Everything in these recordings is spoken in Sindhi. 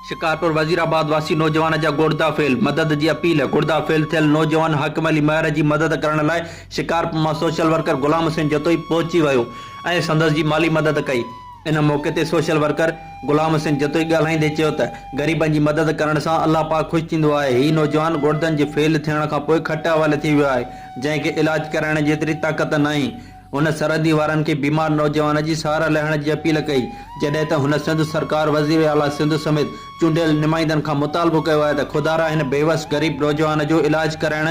شڪارپور وزيرآباد واسي نوجوان جا گوڙدا فيل، مدد جي اپيل، گوڙدا فيل ٿيل نوجوان حاڪم علي مهر جي مدد ڪرڻ لاء شڪارپور مان سوشل ورڪر غلام حسين جتوئي پهچي ويو ۽ سندس جي مالي مدد ڪئي ان موقعي تي سوشل ورڪر غلام حسين جتوئي ڳالهائيندي چيو ته غريبن جي مدد ڪرڻ سان الله پاڪ خوش ٿيندو آهي هي نوجوان گوڙدن جي فيل ٿيڻ کانپوء کٽ حوالي ٿي ويو آهي جنهن کي علاج ڪرائڻ جيتري طاقت ناهي هن سرحدي وارن کي بيمار نوجوان جي سهارا لهڻ جي اپيل ڪئي، جڏهن ته هن سنڌ سرڪار، وزير اعليٰ سنڌ سميت چونڊيل نمائندن کان مطالبو ڪيو آهي ته خدارا هن بيوس غريب نوجوان جو علاج ڪرائڻ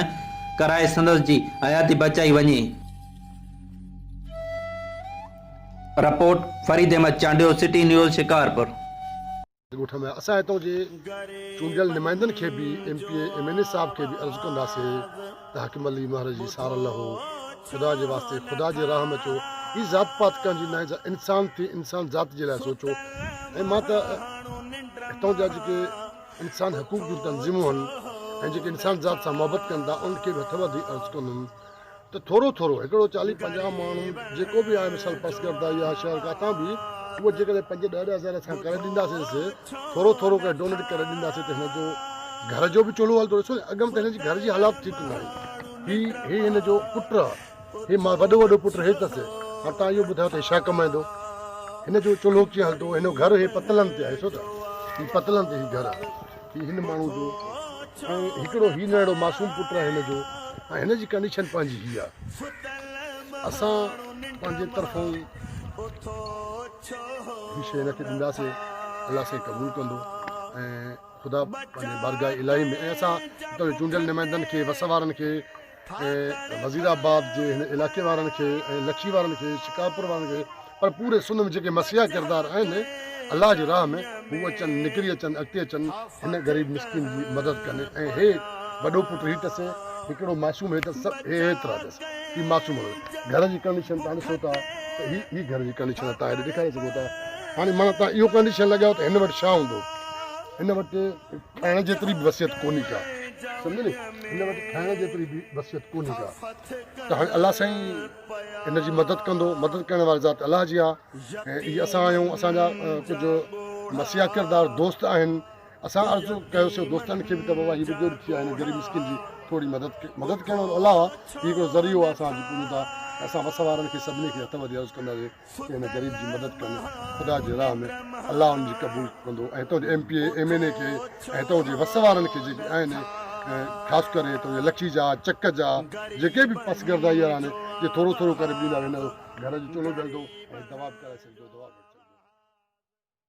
ڪرائي سندس جي حياتي بچائي وڃي. Report, Farid Ahmed Chandio, city news, Shikarpur. ڳوٺ ۾ اسان هتان جي چونڊيل نمائندن کي به M P A M N A صاحب کي به عرض ڪنداسين ته حاڪم علي مهر جي سار لهو خدا جي واسطي خدا جي راهه ۾ اچو هي ذات پات ڪنهن جي ناهي انسان ٿي انسان ذات جي لاء سوچو ۽ مان ته هتان جا جيڪي انسان حقوق جون تنظيمون آهن ۽ جيڪي انسان ذات سان محبت ڪن ٿا ان کي به هٿ وڌي عرض ڪندم ته ٿورو ٿورو هڪڙو چاليهه پنجاهه ماڻهو جيڪو به آهي مثال پسگرده يا شهر ڪاٿان به اهو جيڪڏهن پنج ڏهه ڏهه هزار اسان ڪري ڏينداسينس ٿورو ٿورو ڪري ڊونيٽ ڪري ڏينداسين ته هن جو گهر جو به چولهو هلندو ڏسو اڳ ۾ ته هن جي گهر جي حالات ٺيڪ نه آهي هي هي هن جو پٽ آهي هي مال وڏو وڏو پٽ هي اٿس هاڻ تان اهو ٻڌايو ته ڇا ڪمائندو هن جو چولهو ڪيئن هلندو هن جو گهر هي پتلن تي آهي ڏسو ته هي پتلن تي هي گهر آهي هي هن ماڻهو جو ۽ هڪڙو هي ننهڙو معصوم پٽ آهي هن جو ۽ هن جي ڪنڊيشن پنهنجي هي آ اسان پنهنجي طرفون هي شي هن کي ڏينداسي الله سائين قبول ڪندو ۽ خدا پنهنجي بارگاهه الاهي ۾ ۽ اسان چونڊيل نمائندن کي وس وارن کي ۽ وزير آباد جي هن علائقي وارن کي ۽ لکي وارن کي شڪارپور وارن کي پر پوري سنڌ ۾ جيڪي مسيحا ڪردار آهن الله جي راهه ۾ هو اچن نڪري اچن اڳتي اچن هن غريب مسڪين جي مدد ڪن ۽ هي وڏو پٽ هي تسي هڪڙو معصوم هي تس هي هيترا تس هي معصوم هو گهر جي ڪنڊيشن تان ڏسو ٿا ته هي هي گهر جي ڪنڊيشن تان هيڏي ڏيکاري سگهو ٿا هاڻي مانا تان اهو ڪنڊيشن لڳايو ته هن وٽ ڇا هوندو هن وٽ کائڻ جيتري به وسيعت ڪونهي ڪا. سمجهيو ني هن وٽ کائڻ جيتري به وسيعت ڪونهي ڪا. ته هاڻي الله سائين هن جي مدد ڪندو. مدد ڪرڻ واري ذات الله جي آهي ۽ هي اسان آهيون. اسان جا ڪجهه مسيحا ڪردار دوست آهن. اسان عرض ڪيوسين دوستن کي به ته بابا هي بزرگ ٿي ويا آهن غريب مسڪين جي ٿوري مدد ڪيو. مدد ڪرڻ وارو الله آهي. هي هڪڙو ذريعو آهي اسان جي پوڄيندا ۽ اسان وس وارن کي سڀني کي هٿ وڌي عرض ڪنداسين. ڪنهن نه غريب جي مدد ڪن خدا جي راهه ۾ الله ان جي قبول ڪندو ۽ هتان جي M P A M N A کي ۽ هتان جي وس وارن کي جيڪي آهن خاص ڪري هتان جي لکي جا چڪ جا جيڪي به پس گردائي وارا آهن جي ٿورو ٿورو ڪري ڏيندا ويندا گهر جو چولو ڏيندو ۽ دوا به ڪرائي سگهجو دوا